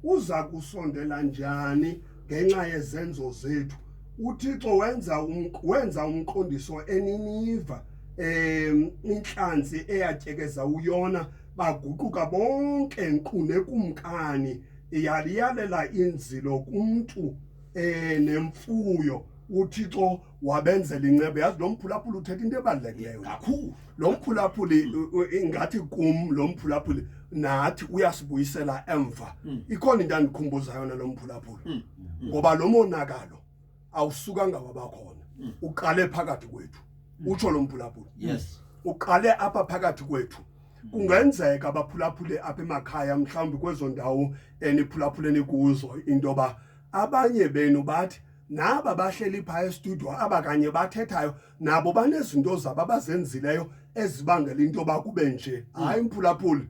Uza kusondela njani ngenxa yezenzo zethu? UThixo wenza um, wenza umqondiso eNiniva um intlanzi eyatyekeza uyona baguquka bonke nkqu nekumkani yaliyalela inzilo kumntu um nemfuyo uthixo wabenzela inceba yazi lo mphulaphuli uthetha into ebalulekileyo kakhulu lo mphulaphuli ingathi kum lo mphulaphuli nathi uyasibuyisela emva hmm. ikhona into andikhumbuza yona lo mphulaphuli hmm. Hmm. ngoba lo monakalo awusukanga wabakhona uqale phakathi kwethu utsho lo mphulaphuli yes uqale apha phakathi kwethu kungenzeka abaphulaphule apha emakhaya mhlawumbi kwezo ndawo eniphulaphuleni kuzo into yoba abanye benu bathi naba bahleli phaya estudio aba kanye bathethayo nabo banezinto zabo abazenzileyo ezibangela into yoba kube nje mm. hayi mphulaphuli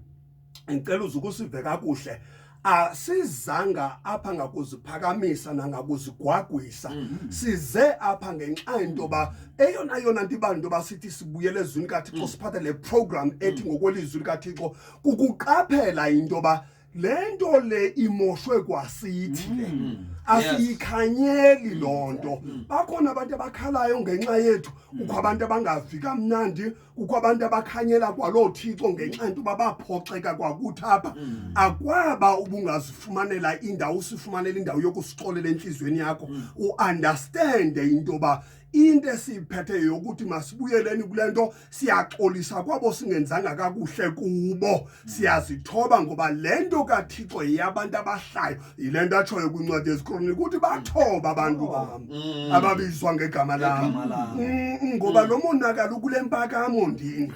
ndicela uze ukusive kakuhle asizanga apha ngakuziphakamisa nangakuzigwagwisa mm-hmm. size apha ngenxa yento yoba eyona yona nto ibala into yoba sithi sibuyele ezwini kathixo mm. siphathe le program ethi mm. ngokwelizwi likathixo kukuqaphela into yoba le nto le imoshwe kwasithi le mm. asiyikhanyeli mm. loo nto mm. bakhona abantu abakhalayo ngenxa yethu kukho abantu abangavi kamnandi kukho abantu abakhanyela kwaloo thixo ngenxa yento uba baphoxeka kwakuthi apha akwaba ubungazifumanela indawo usifumanela indawo yokusixolela entliziyweni yakho uunderstande into yoba into esiyiphetheyo yokuthi masibuyeleni kule nto siyaxolisa kwabo singenzanga kakuhle kubo siyazithoba ngoba le nto kathixo yeyabantu abahlayo yile nto atshoyo kwincwadi ezikroniki ukuthi bathoba abantu bam mm. ababizwa ngegama lam mm, ngoba mm. lo monakalo ukule mpakamo ndini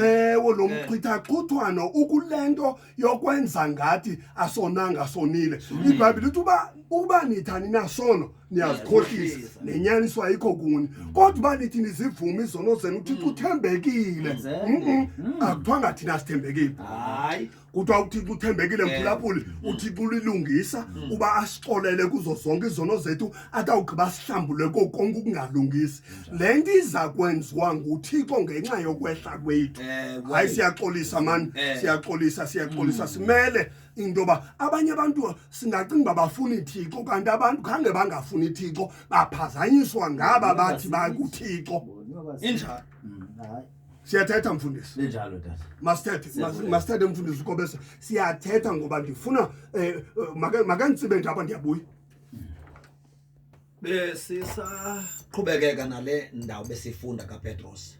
ewo lo mchithaxhuthwano ukule nto yokwenza ngathi asonanga sonile ibhayibhile uthi uba uba nithani nasono niyazikhohlisa nenyaniso ayikho kuni mm. kodwa uba nithi nizivumi izono zenu uthixo mm. uthembekile mm. akuthiwa ngathina sithembekile kuthiwa uthixo uthembekile mphulaphuli uthixo ulilungisa uba asixolele kuzo zonke izono zethu atawugqiba sihlambule kokonke ukungalungisi le nto iza kwenziwa nguthixo ngenxa yokwehla kwethu hayi siyaxolisa mani siyaxolisa siyaxolisa simele into yoba abanye abantu singacinga uba bafuna ithixo kanti abantu khange bangafuni ithixo baphazanyiswa ngaba bathi bakuthixo injalo mm, siyathetha mfundisi linjalo tata masithethe mas- masithethe mfundisi ukobese siyathetha ngoba ndifuna um eh, eh, maka- makanditsibe nje apha ndiyabuya besisaqhubekeka nale ndawo besifunda kapetros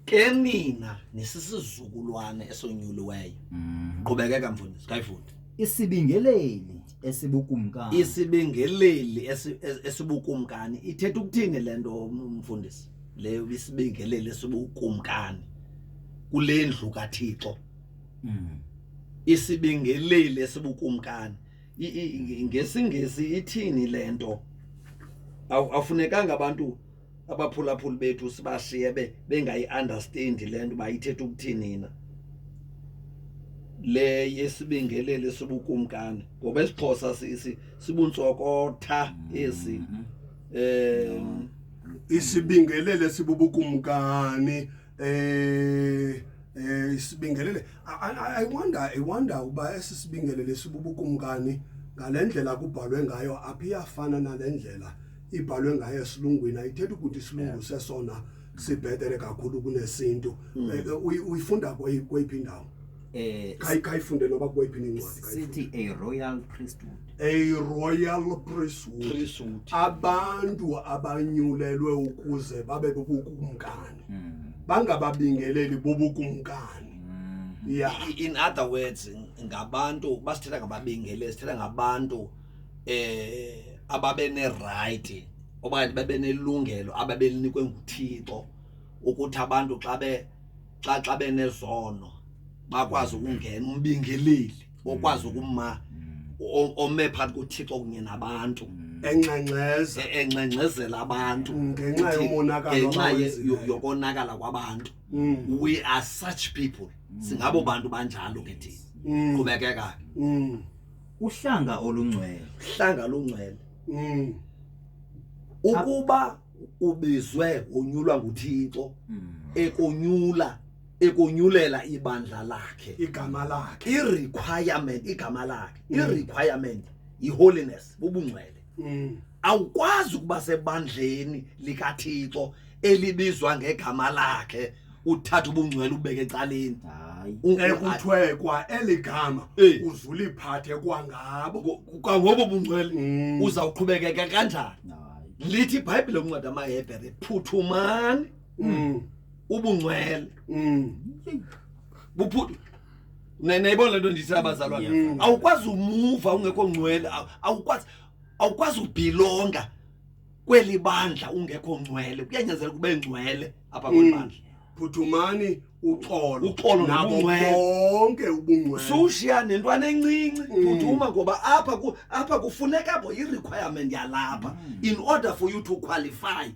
ke nina nisisizukulwane esonyuliweyo mm. qhubekeka mfundisi kayifunde isibingeleli esibukumkani isibingeleli esibukumkani ithetha ukuthini le nto mfundisi le isibingeleli esibukumkani kule ndlu kathixo mm. isibingeleli esibukumkani ngesingesi ithini le nto awufunekanga abantu abaphulaphuli bethu sibashiye be bengayi-understand le nto uba ithetha ukuthini na le yesibingeleli sibukumkani ngoba isixhosa sibuntsokootha esi um isibingelele sibubukumkani Eh eh isibingelele I, I wonder I wonder uba esi sibingelele sibubukumkani ngalendlela kubhalwe ngayo aphi iyafana nalendlela ibhalwe ngayo esilungwini ayithetha ukuthi isilungu sesona sibhetere kakhulu kunesintu hmm. eh, eh, uyifunda kweyiphi indawo eh kayifunde noba kweyiphi incwadi sithi a royal priesthood a royal priesthood abantu abanyulelwe ukuze babe bukumkani mm. bangababingeleli bobukumkani mm. yeah. in other words ngabantu basithetha ngababingeleli sithetha ngabantu eh ababeneright okanye babenelungelo ababelinikwe nguthixo ukuthi abantu xa be xa xa benezono bakwazi ukungena umbingeleli okwazi ukuma o- ome phambi kothixo kunye nabantu enxenxeza E- encengcezela abantu Ngenxa Uthi, yomonakalo ngenxa ye- abawenzileyo. yo- yokonakala kwabantu Mm. we are such people singabo bantu banjalo ke thina Mm. qhubekeka Mm. uhlanga olungcwele hlanga lungcwele Mm. ukuba ubizwe unyulwa nguThixo hmm. ekonyula ekonyulela ibandla lakhe igama lakhe i requirement igama lakhe i hmm. requirement i holiness ubungcwele hmm. awukwazi ukuba sebandleni likaThixo elibizwa ngegama lakhe uthatha ubungcwele ubeke ecaleni hayi U- u- a- ekuthiwe kwa eli gama Eh. uzuliphathe kwangabo ngo- kwangobo bungcwele Mm. uzawuqhubekeka kanjani hayi lithi ibhayibhile ukunceda amahebhere phuthumani Mm, ubungcwele mm, buphuthu Ne- nayibona le nto ndithi abazalwana Mm. awukwazi umuva ungekho ngcwele aw- awukwazi awukwazi ubhilonga kweli bandla ungekho ngcwele kuyanyanzela kube ngcwele apha kweli Mm. bandla phuthumani uxolo Uxolo nabo nobungcwele. bonke ubungcwele sushiya nentwana encinci Mm. phuthuma ngoba apha ku- apha kufuneka bo i-requirement yalapha in order for you to qualify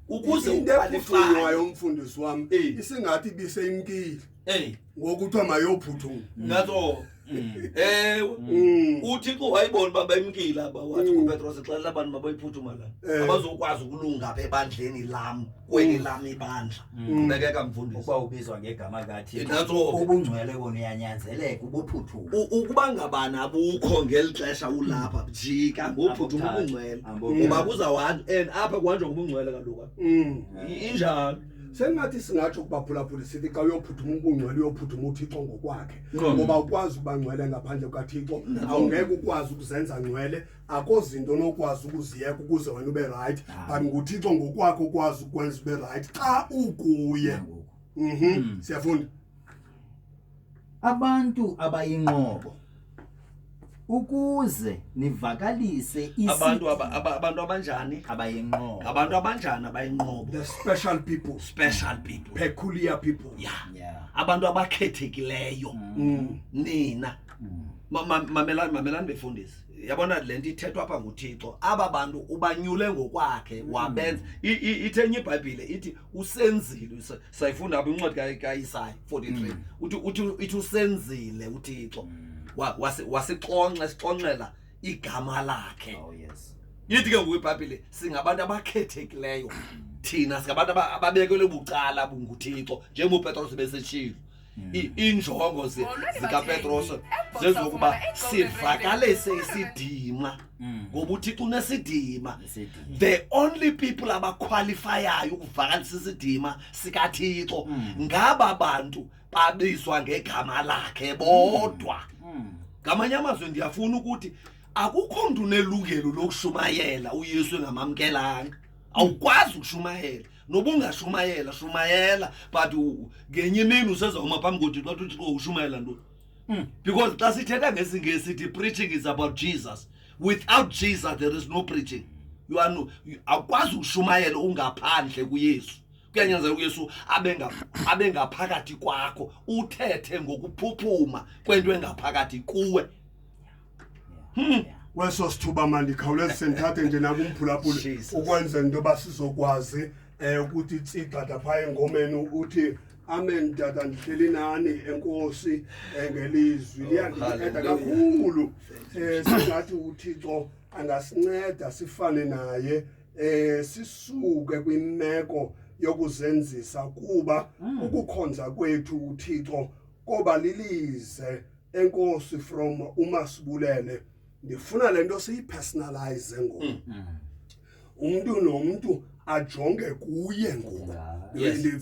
ukuze into uqualifye ephuthunywayo umfundisi wam Eh. isingathi ibiseyimkile Hey, ngoku kuthiwa mayophuthuma. That's all. Mm. ewe mm. uthixo wayibona uba bemkile aba wathi mm. kupetros exelela abantu mabayiphuthuma la eh. abazokwazi ukulunga apha ebandleni lam kweli lam ibandla qhubekeka mfundisi ukuba ubizwa ngegama kathixo ubungcwele kona uyanyanzeleka ubuphuthuma ukuba ngabani abukho ngeli xesha ulapha jika ngophuthuma ubungcwele ngoba kuzawuhanjwa and apha kuhanjwa ngobungcwele kaloku injalo sengathi singatsho kubaphulaphuli sithi xa uyophuthuma ubungcwele uyophuthuma uthixo ngokwakhe ngoba ukwazi ukuba ngcwele ngaphandle kukathixo awungeke ukwazi ukuzenza ngcwele akho zinto onokwazi ukuziyeka ukuze wena ube rayithi but nguthixo ngokwakhe ukwazi ukwenza ube rayithi xa ukuye mhm. hmm. siyafunda Abantu abayinqobo ukuze nivakalise isi abantu aba, aba, abantu abanjani abayinqobo. abantu abanjani abayinqobo The special people, special people peculiar people. ya Yeah. abantu abakhethekileyo Mm. nina Ma- ma- mamelani mamelani befundisi yabona le nto ithethwa apha nguthixo aba bantu ubanyule ngokwakhe wabenza I- i- ithenye ibhayibhile ithi usenzile sayifunda apha incwadi kayisayi 43 mm. uthi uthi ithi usenzile uthixo mm. wasixonxa sixonxela igama lakhe oh, yithi ke ngoku ibhayibhile singabantu abakhethekileyo mm. thina singabantu ababekelwe bucala bunguthixo njengopetros beseshilo iinjongo zikapetros zezokuba sivakalise isidima mm. ngoba uthixo unesidima the only people abakhwalifayayo ukuvakalisa isidima sikathixo mm. ngaba bantu babizwa ngegama lakhe bodwa mm. ngamanye amazwi ndiyafuna ukuthi akukho mntu unelungelo lokushumayela uyesu engamamkelanga awukwazi ukushumayela noba ungashumayela shumayela but u- ngenye imini usezawuma phambi kothixo wathi uthixo ushumayela ntoni Mm. because xa sithetha ngesingesi sithi preaching is about jesus without jesus there is no preaching you are no, you- awukwazi ukushumayela ungaphandle kuyesu kuyanyanzela uyesu abe nga- abe ngaphakathi kwakho uthethe ngokuphuphuma kwento engaphakathi kuwe kweso sithuba mandikhawuleze sendithathe nje nakumphulaphula Jesus. ukwenzela into yoba sizokwazi um ukuthi tsigxada phaa engomeni uthi amen tata ndihleli nani enkosi um ngelizwi liyandinceda kakhulu um singathi uthixo angasinceda sifane naye um sisuke kwimeko yokuzenzisa kuba ukukhonza kwethu uthixo koba lilize enkosi from umasibulele ndifuna le nto siyipersonalize ngoku mm. mm. umntu nomntu ajonge kuye ngoku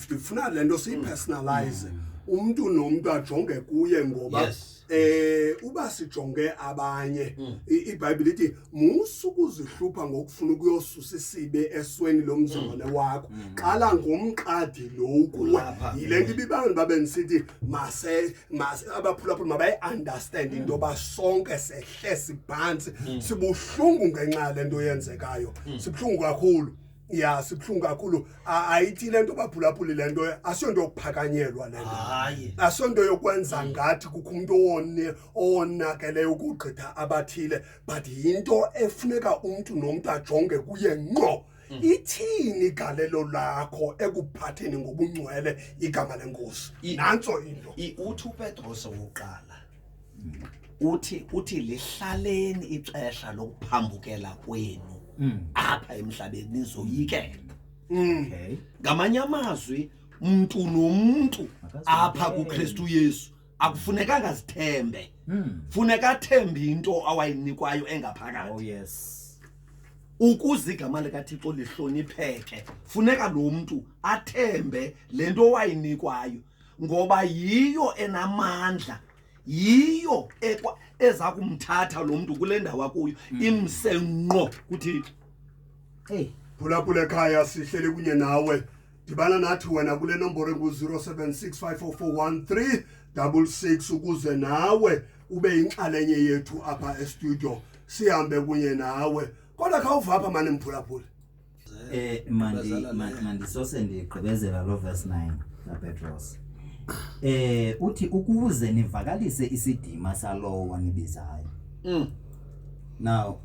ndifuna le nto siyipersonalize mm. umntu nomntu ajonge kuye ngoba yes eh uba sijonge abanye mm. iBhayibhile ithi musu kuzihlupha ngokufuna ukuyosusa isibe esweni lomzalwane mm. wakho mm. qala ngomqadi lo kuwe yilento ibibangela babe ngisithi mase abaphulaphula mabayi-understand into yoba sonke sehle siphantsi mm. sibuhlungu ngenxa yale nto yenzekayo mm. sibuhlungu kakhulu ya sibuhlungu kakhulu ayithi le nto baphulaphuli le nto asiyonto yokuphakanyelwa le nto asiyonto yokwenza mm. ngathi kukho umntu owone owonakeleyo ukugqitha abathile but yinto efuneka umntu nomntu ajonge kuye ngqo Mm. ithini igalelo lakho ekuphatheni ngobungcwele igama lenkosi I- nantso into I- uthi upetros wokuqala uthi uthi lihlaleni ixesha lokuphambukela kwenu Mm. apha emhlabeni nizoyikela Mm. Okay. ngamanye amazwi mntu nomntu Makazi- apha kukristu yesu akufunekanga azithembe Hmm. funeka athembe into awayinikwayo engaphakathi Oh yes. ukuze igama likathixo lihlonipheke funeka lo mntu athembe le nto wayinikwayo ngoba yiyo enamandla yiyo ekwa- eza kumthatha lo mntu kule ndawo akuyo imse ngqo kuthixo Hey. phulaphula ekhaya sihlele kunye nawe dibana nathi wena kule nomboro engu-0765441366 ukuze nawe ube yinxalenye yethu apha estudio sihambe kunye nawe kodwa khawuva apha mane mphulaphule eh mandi mandisose ndigqibezela lo verse 9 kapetros eh uthi ukuze nivakalise isidima salowo wanibizayo mm. now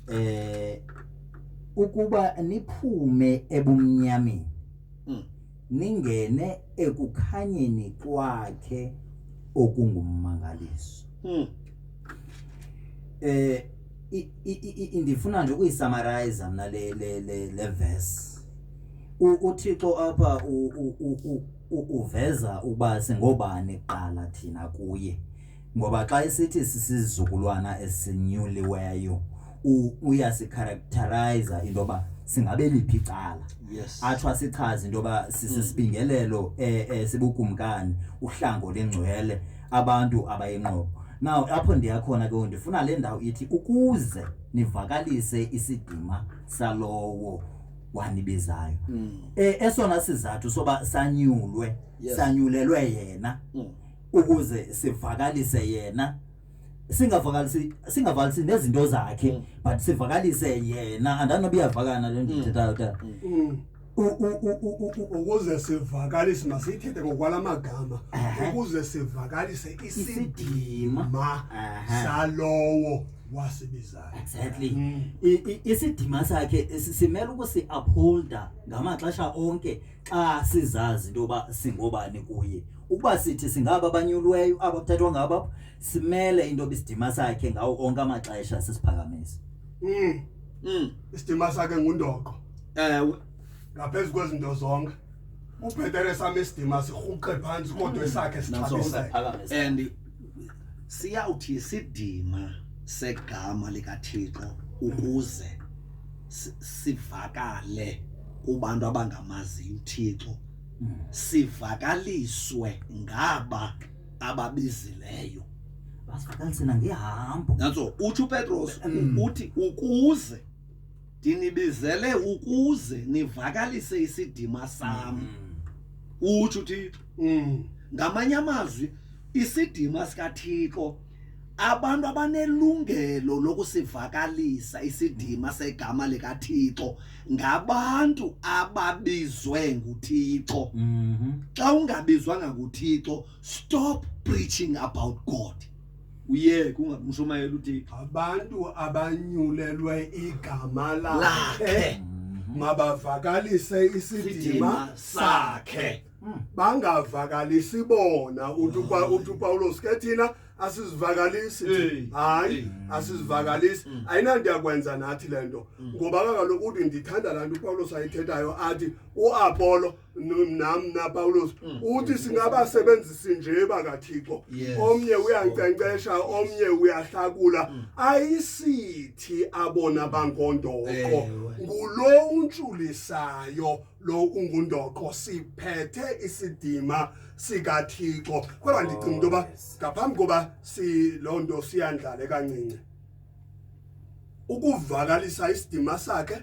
eh ukuba niphume ebumnyameni mm. ningene ekukhanyeni kwakhe okungummangaliso mm. eh ndifuna nje ukuyisamarize mna le le le le verse uthixo apha uveza uba singobani kuqala thina kuye Ngoba xa isithi sisizukulwana esinyuliweyo uyasikharacteriza into yoba singabe liphi icala atsho asichaze into yoba sisisibingelelo mm. eh, eh, sibukumkani uhlango lengcwele abantu abayinqobo now apho ndiyakhona ke ndifuna le ndawo ithi ukuze nivakalise isidima salowo wanibizayo mm. e, esona sizathu soba sanyulwe yes. sanyulelwe yena mm. ukuze sivakalise yena singavakalisi singavalisi nezinto zakhe mm. but sivakalise yena andanoba iyavakana le nto ithethayo mm. ta mm. ukuze sivakalise masiyithethe ngokwala magama ukuze sivakalise isidima salowo wasibizayo exactly isidima sakhe simele ukusi-upholda ngamaxesha onke xa sizazi into yoba singobani kuye ukuba sithi singaba abanyulweyo aba kuthathwa ngabo simele into yoba isidima sakhe ngawo onke amaxesha sisiphakamisa Mm. Mm. Isidima sakhe ngundoqo. Ewe. Ngaphezu kwezinto zonke. Ubhetere sami isidima sirhuqe phansi kodwa esakhe sithabise. And Siyawuthi isidima segama likaThixo ukuze sivakale kubantu abangamaziyo uThixo sivakaliswe ngaba ababizileyo basivakalisela ngehambo nantso utsho upetros mm. uthi ukuze ndinibizele ukuze nivakalise isidima sam mm. utsho uthixo mm. ngamanye amazwi isidima sikathixo abantu abanelungelo lokusivakalisa isidima segama likaThixo ngabantu ababizwe nguThixo mhm. xa ungabizwanga nguThixo stop preaching about God uyeke ungamshumayela uthixo abantu abanyulelwe igama lakhe mhm. mabavakalise isidima sakhe hmm. bangavakalisi bona uthi hmm. upawulos ke thina asizivakalisi hayi hmm. asizivakalisi ayinanto yakwenza nathi le nto ngoba kakaloku uthi ndithanda laa nto upawulos ayithethayo athi uapolo nam napawulos mm. uthi mm. singabasebenzisi nje bakathixo omnye uyankcenkcesha omnye uyahlakula mm. ayisithi abona bangondoqo ngulo untsulisayo lo ungundoqo siphethe isidima sikathixo kodwa ndicinga into yoba oh, ngaphambi koba loo nto siyandlale kancinci ukuvakalisa isidima sakhe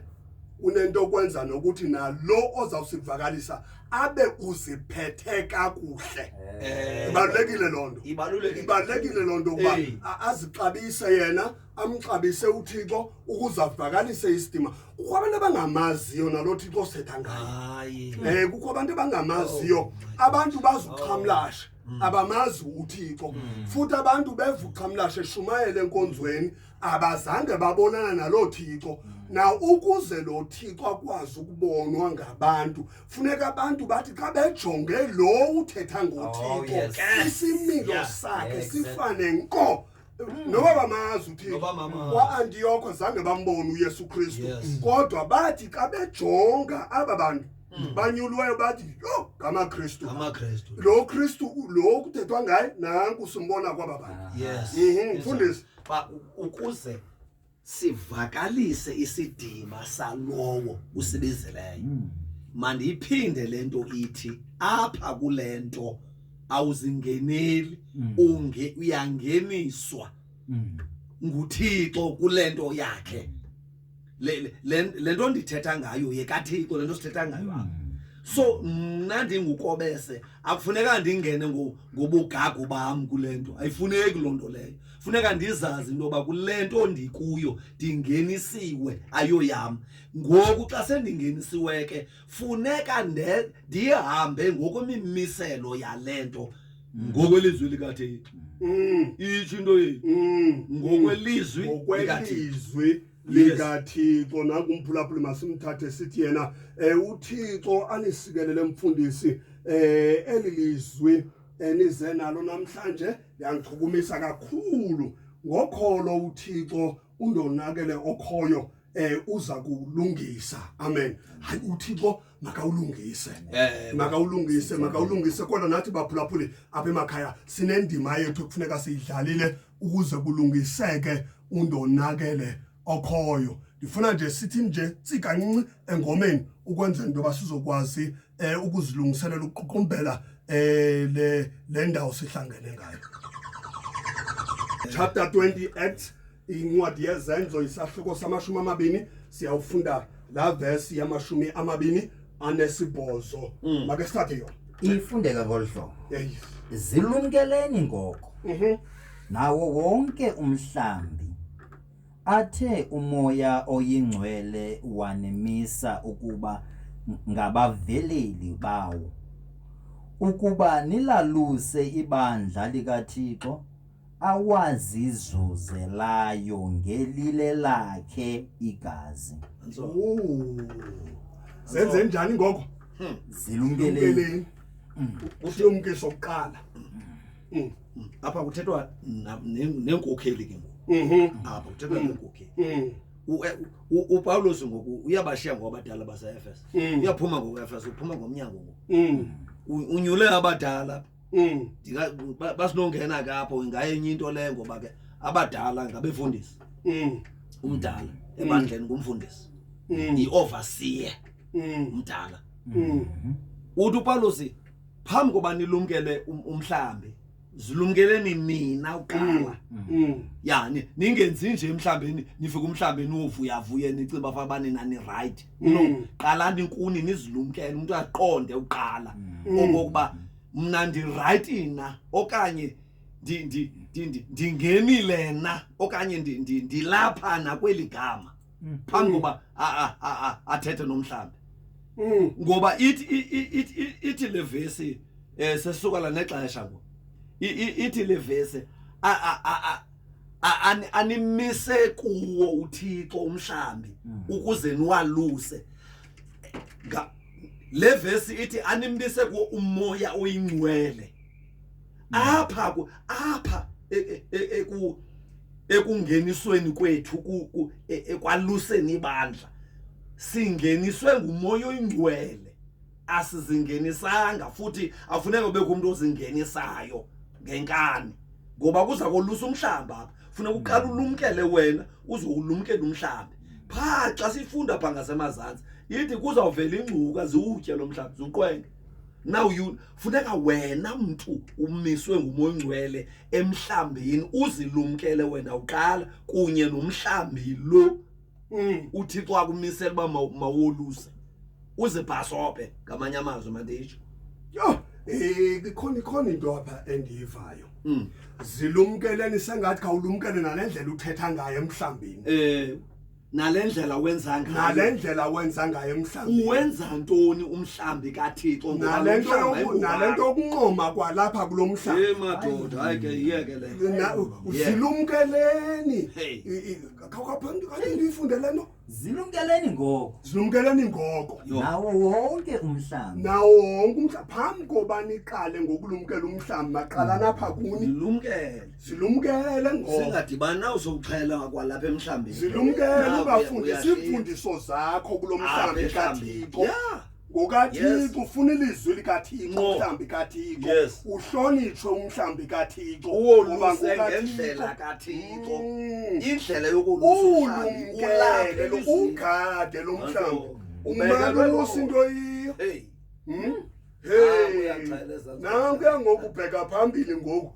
unento okwenza nokuthi nalo ozawusivakalisa abe uziphethe kakuhle eh. ibalulekile loo nto ibalulekile loo nto ukuba azixabise yena amxabise uthixo ukuze avakalise isidima kukho abantu abangamaziyo nalo thixo setha ngayo um eh, kukho abantu abangamaziyo oh, abantu bazuxhamlashe mm. abamazi uthixo mm. futhi abantu bevuqhamlashe shumayele enkonzweni abazange babonana naloo thixo mm. na ukuze lo thixo akwazi ukubonwa ngabantu funeka abantu bathi xa bejonge lo uthetha ngothixo oh, yes. isimilo yeah. sakhe yeah, exactly. sifane nko Mm. noba bamazi uthixo kwaantiyoko zange bambone uyesu kristu kodwa bathi xa bejonga aba bantu mm. banyulwayo bathi yho ngamakristu lo kristu lo kuthethwa ngaye nanku simbona kwaba bantu mhm, mfundisi ukuze sivakalise isidima salowo usibizileyo hmm. mandiyiphinde le nto ithi apha kule nto awuzingeneli hmm. unge uyangeniswa hmm. nguthixo kule nto yakhe le nto ndithetha ngayo yekathixo le nto sithetha ngayo apha so mna ndingukobese akufuneka ndingene ngobugagu bam kule nto ayifuneki loo nto leyo funeka ndizazi into yoba kule nto ndikuyo ndingenisiwe ayoyam ngoku xa sendingenisiwe ke funeka ndihambe ngokwemimiselo yale nto mm. ngokwelizwi likatheni mm. itsho into yethu mm. ngokwelizwi ngokwelizwi likathixo nakumphulaphuli masimthathe sithi yena um uthixo anisikelele mfundisi um eli lizwi enize nalo namhlanje yangichukumisa kakhulu ngokholo uThixo undonakele okhoyo eh uza kulungisa amen hayi uThixo makawulungise eh, makawulungise makawulungise kodwa nathi baphulaphuli apha emakhaya sinendima yethu kufuneka siyidlalile ukuze kulungiseke undonakele okhoyo ndifuna nje sithi nje sikancinci engomeni ukwenzela into yoba sizokwazi um ukuzilungiselela ukuququmbela um le le ndawo sihlangene ngayo chapter 20 act incwadi yezenzo isahluko samashumi amabini siyawufunda la vesi yamashumi amabini anesibhozo mm. make sithathe yona ifundeka ngolu hlobo zilumkeleni ngoko mhm. nawo wonke umhlambi Athe umoya oyingcwele wanimisa ukuba ngabaveleli bawo, ukuba nilaluse ibandla likaThixo awazizuzelayo ngelile lakhe igazi. Senze njani ngoko? Zilumkeleni. Usilumkiso kuqala. mm. mm. apha kuthethwa neenkokheli ke ngoku mm-hmm. apha kuthethwa mm. neenkokheli mm. upawulos ngoku uyabashiya ngokwabadala baseefes mm. uyaphuma ngokefes uphuma ngomnyango ngoku mm. unyule abadala mm. basinongena ke apho ingayenye into leyo ngoba ke abadala ngabefundisi umdala ebandleni ngumfundisi yi-overseer umdala uthi upawulos phambi koba nilumkele um-, umhlambi zilumkeleni nina uqala mm. mm. ya ningenzi nje mhlawumbe nifike umhlawumbe niwovuyavuye nicinga fa banina ni-right mm. no qalani inkuni nizilumkele umntu aqonde uqala okokuba mna ndi-right na okanye ndingenile na okanye ndilapha nakweli gama mm. phambi koba athethe nomhlambi mm. ngoba ithi ithi ithi levesi eh sesuka la nexesha ngo ithi levesi a a a animise kuwo uThixo umhlambi mm. ukuze niwaluse le vesi ithi animbise kuwo umoya oyingcwele apha ku apha e, e, e, eku ekungenisweni kwethu ku ekwaluseni ibandla singeniswe ngumoya oyingcwele asizingenisanga futhi afuneka ube kumuntu ozingenisayo ngenkani ngoba kuza kolusa umhlamba apha funeka uqala ulumkele wena uzowulumkela umhlaba pha xa sifunda pha ngasemazantsi yithi kuzawuvela ingcuka ziwutye lo mhlaba ziwuqwenge now you funeka wena mntu umiswe ngumoya ongcwele emhlambini uzilumkele wena uqala kunye nomhlambi lo mm. uthixo akumisela uba mawoluse uzibhasobhe ngamanye amazwi manditsho yho um ikhona ikhona into apha endiyivayo mm. zilumkeleni sengathi khawulumkele nale ndlela uthetha ngayo emhlambini um nale ndlela wenza ngayo nale ndlela wenza ngayo emhlawumbi uwenza ntoni umhlambi kathixo ngoba nale lo nto mhlamba yoku- ayingowakho. nale nto yokunqoma kwalapha kulo mhlaba Hey, madoda hayi ke yiyeke le Na- Yeah. zilumkeleni Hey. I- i- khawukaphambi kanye ndiyifunde le nto zilumkeleni ngoko zilumkeleni ngoko Yho. nawo wonke umhlaba nawo wonke umhlaba phambi koba niqale ngokulumkela umhlaba maqala napha kuni Zilumkele. Silumkele ngoba singadibani nawe sokuxhela ngakwalapha emhlambeni. Silumkele Nawe ubafundisa uyahleka. iimfundiso zakho kulo Apha mhlambi emhlambeni. kaThixo. Yeah. ngokathixo ufuna ilizwi likathixo Nqo. umhlambi kathixo Yes. uhlonitshwe umhlambi kathixo Uwoluse ngoba ngokaThixo. ngendlela kaThixo. Mm. Indlela yokulusa umhlambi ulumkele lo- ugade lo mhlambi Ubeka umane lwelongo. ulusa into yiyo Hey. Mm? nankuya ngoku ubheka phambili ngoku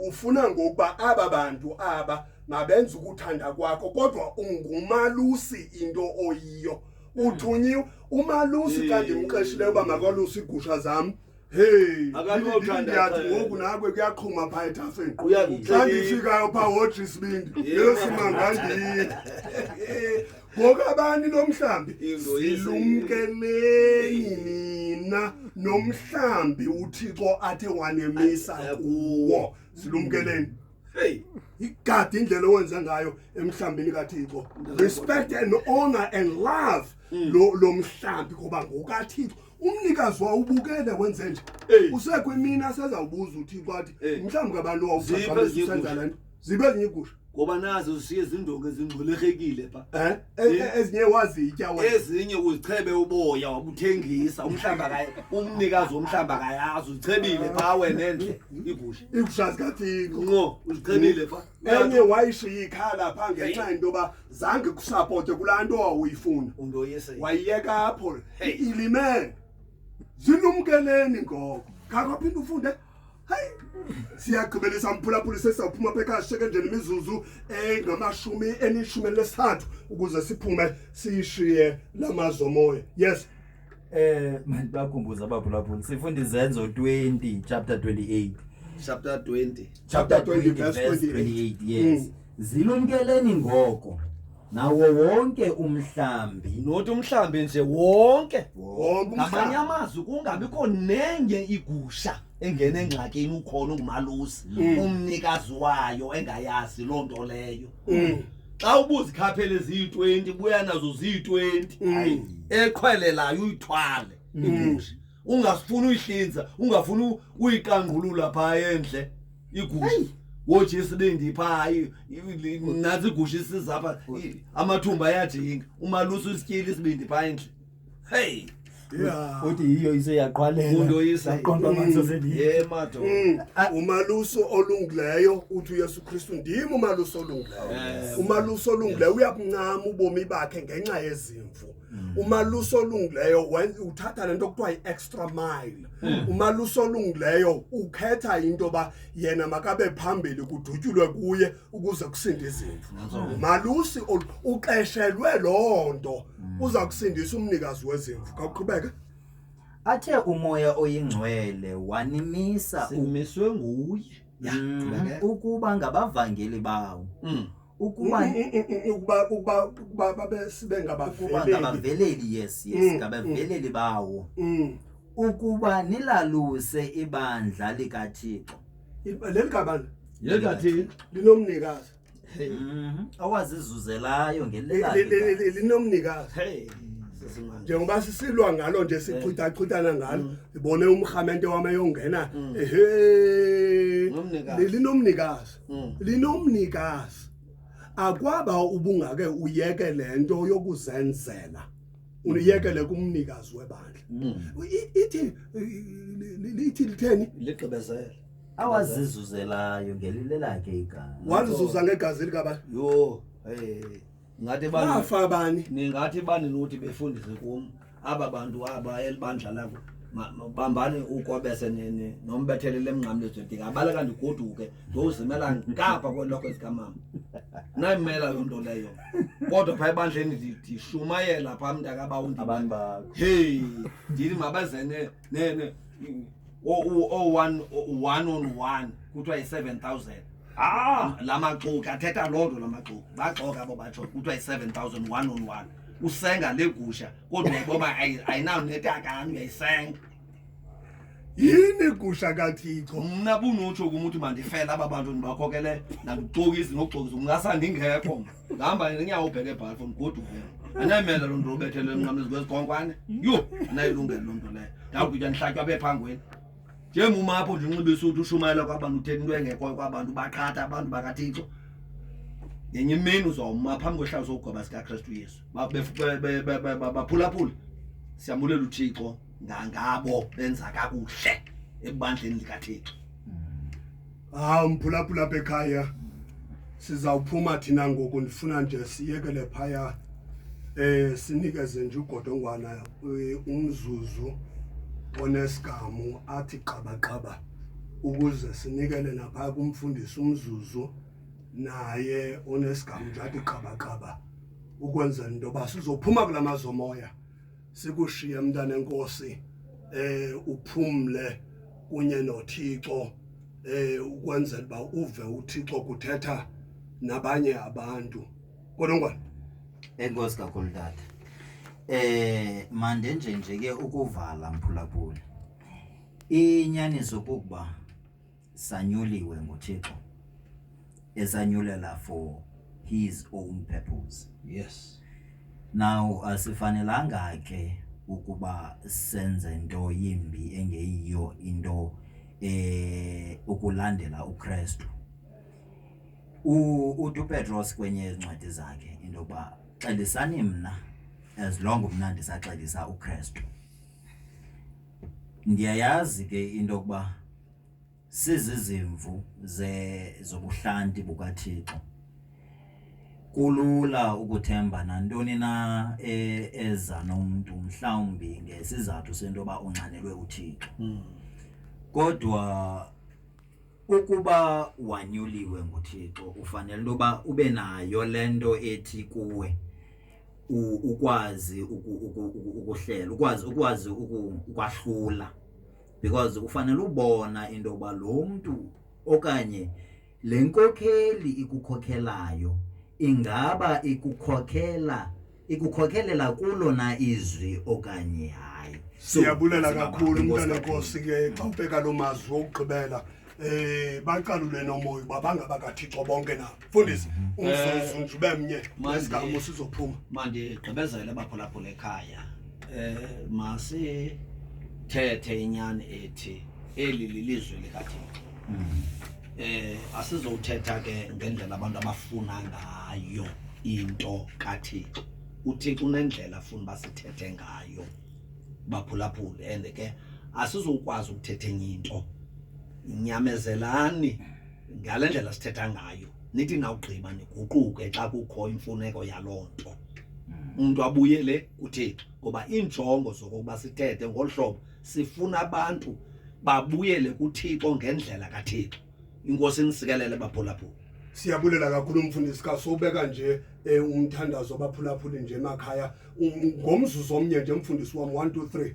ufuna ngokuba aba bantu aba mabenze ukuthanda kwakho kodwa ungumalusi into oyiyo hmm. uthunyiwe umalusi xa ndimqeshileyo uba makalusi iigusha zam hey ndiyathi ngoku nakwe kuyaqhuma phaa ethafeni xa ndifikayo phaa wodra isibindi yesimangandini ngokabani lo mhlambi silumkeleni nina nomhlambi uthixo athe wanemisa kuwo silumkeleni hey igadi indlela owenza ngayo emhlambini kathixo respect and honor and love mm. lo lo mhlambi ngoba ngokathixo umnikazi wawubukele wenze nje usekho imini asezawubuza uthixo athi mhlawumbi kabantu wawusenza le nto zibe ezinye iigusha ngoba nazo zishiye zindonga ezingxolekekile pha Eh, eh, Eh. eh, ezinye wazitya wena ezinye uzichebe uboya wabuthengisa umhlamba kaye umnikazi womhlamba kayazi uzichebile pha wena endle igusha iigusha zikathixo nqo uzichebile pha enye wayishiya ikhala pha ngenxa yento yoba zange kusapote kulaa nto wawuyifuna umntu oyese wayiyeka apho Hey. ilimele zilumkeleni ngoko khakwaphinde ufunde hayi siyagqibelisa mphulaphuli sesizawuphuma apha ekhaya sisheke nje nemizuzu engamashumi enishumi elinesithathu ukuze siphume siyishiye la mazwi omoya yes Eh manje bakhumbuza abaphulaphuli sifunda izenzo 20 chapter 28 chapter 20 chapter 20 verse 28 yes Mm. Zilumkeleni ngoko nawo wonke umhlambi. Not umhlambi nje wonke. Wonke Ngamanye umhlambi. amazwi kungabikho nenye igusha engena engxakini ukhona ungumalusi Mm. umnikazi wayo engayazi loo nto leyo. Mm. Xa ubuzikhaphele ziyi-20 buya nazo ziyi-20. Mm. Eqhwelelayo uyithwale. Mm. ungafuni uyihlinza ungafuni uyiqangqulula phaa endle igusha woje isibindi phaa nantsi igusha isiza pha amathumba ayajinga umalusa usityile isibindi phaa endle heyi uthi yiyo iseyaqwalelaqontoamanzazeliyeemato mm. ah. umaluso olungileyo uthi uyesu kristu ndim umaluso olungileyo umaluso olungileyo uyakuncama ubomi bakhe ngenxa yezimvu Mm. umalusi olungileyo wen- uthatha le nto kuthiwa yi-extra mile Mm. umalusi olungileyo ukhetha into yoba yena makabe phambili kudutyulwe kuye ukuze kusinde izimvu umalusi ol- uxeshelwe loo nto Mm. uza kusindisa umnikazi wezimvu khawuqhubeke athe umoya oyingcwele wanimisa u- simiswe nguye Mm, ukuba ngabavangeli bawo Mm. ukuba ukuba ukuba ukuba babe sibe ngabaveleli yes yes mm, ngabaveleli mm. bawo mm. ukuba nilaluse ibandla likaThixo leli gabana leli kaThixo linomnikazi mhm. awazizuzelayo ngelelali linomnikazi hey njengoba sisilwa ngalo nje sichithachithana ngalo ngibone umhamente wami eyongena ehe linomnikazi mm. linomnikazi akwaba ubungake uyeke le nto yokuzenzela uniyekele kumnikazi webandla mm. ithi lithi litheni ligqibezele awazizuzelayo ngelile lakhe igazi walizuza ngegazi likabani yho hey ngathi bafa bani ningathi bani nothi befundise kum aba bantu aba elibandla lakho bambani ukwabese nombethelele emnqamlezweni ndingabaleka ndigoduke ndiyozimela ngapha kweloko zikamama nayimela loo nto leyo kodwa phaa ebandleni ndishumayela phaa mntakabawu ndibani bakho heyi ndithi mabazene ne ne o o o one o- one on one kuthiwa yi-seven thousand ah la maxoki athetha loo nto la maxoki baxoka abo batsho kuthiwa yi-seven thousand one on one usenga le gusha kodwa uyayiboba ayi- ayinawunetakani uyayisenga yini igusha kathixo mna bunotsho kum uthi mandifele aba bantu ndibakhokelele nandixokisi nokuxokisa ungasandingekho mna Ngihamba ngenyawo ubheke ebhalfo mgoduke. Anayimela lo nto ubethelwe emnqamlezi kwezikonkwane. Yho, anayilungele lo nto leyo. Ndawugitya ndihlatywa bephangweni. Njenguma apho ndinxibe isuti ushumayela kwabantu uthetha into engekhoyo kwabantu baqhatha abantu bakaThixo. Ngenye imini uzawuma phambi kwehlazo sokugweba sikaKristu Yesu. Ba- bef- be- be- be- be- ba- Baphulaphula. Siyamulela uThixo ngangabo benza kakuhle ebandleni likaThixo. Hawu mphulaphula apha ekhaya sizawuphuma thina ngoku ndifuna nje siyekele phaya eh sinikeze nje ugodongwana eh, umzuzu onesigamu athi qabaqaba ukuze sinikele naphaya kumfundisi umzuzu naye onesigamu nje athi qabaqaba ukwenzela into yoba sizophuma kula mazomoya sikushiye mntana enkosi eh uphumle kunye noThixo eh ukwenzela uba uve uThixo kuthetha nabanye abantu kodwa ngwana enkosi kakhulu tata eh mande nje nje ke ukuvala mphulaphula inyaniso kukuba sanyuliwe nguThixo esanyulela for his own purpose yes now asifanelanga ke ukuba senze into yimbi engeyiyo into eh ukulandela uKristu uTu Petros kwenye yezincwadi zakhe into yokuba xelisani mna as long mna ndisaxelisa uKristu ndiyayazi ke into yokuba sizizimvu ze zobuhlanti bukaThixo. Kulula ukuthemba nantoni na e, eza nomntu mhlawumbi ngesizathu sento yoba unxanelwe uThixo. Hmm. Kodwa ukuba wanyuliwe nguThixo ufanele into yoba ube nayo le nto ethi kuwe ukwazi ukuhlela ukwazi ukwazi ukwahlula because ufanele ubona into yokuba lo mntu okanye le nkokheli ikukhokhelayo ingaba ikukhokhela ikukhokelela kulo na izwi okanye hayi siyabulela kakhulu umntana nkosi ke xa ubheka loo mazwi wokugqibela Eh baqalule nomoya uba bangabakathixo bonke na. Mfundisi mhm. umzuzu eh, nje ube mnye nesigamo sizophuma. Manje gqibezele baphulaphula ekhaya. Eh masi thethe inyani ethi eli lilizwe likaThixo. Mhm. Eh asizowuthetha ke ngendlela abantu abafuna ngayo into kaThixo. UThixo unendlela afuna basithethe ngayo. baphulaphule and ke asizukwazi ukuthetha enye into nyamezelani ngale ndlela sithetha ngayo nithi nawugqiba niguquke xa kukho imfuneko yaloo nto mm. umntu abuyele kuthixo ngoba iinjongo zokokuba sithethe ngolu hlobo sifuna abantu babuyele kuthixo ngendlela kathixo inkosi nisikelele baphulaphula siyabulela kakhulu umfundisi kaso ubeka nje eh, umthandazo baphulaphuli nje emakhaya Um- ngomzuzu omnye nje mfundisi wam 1 2 3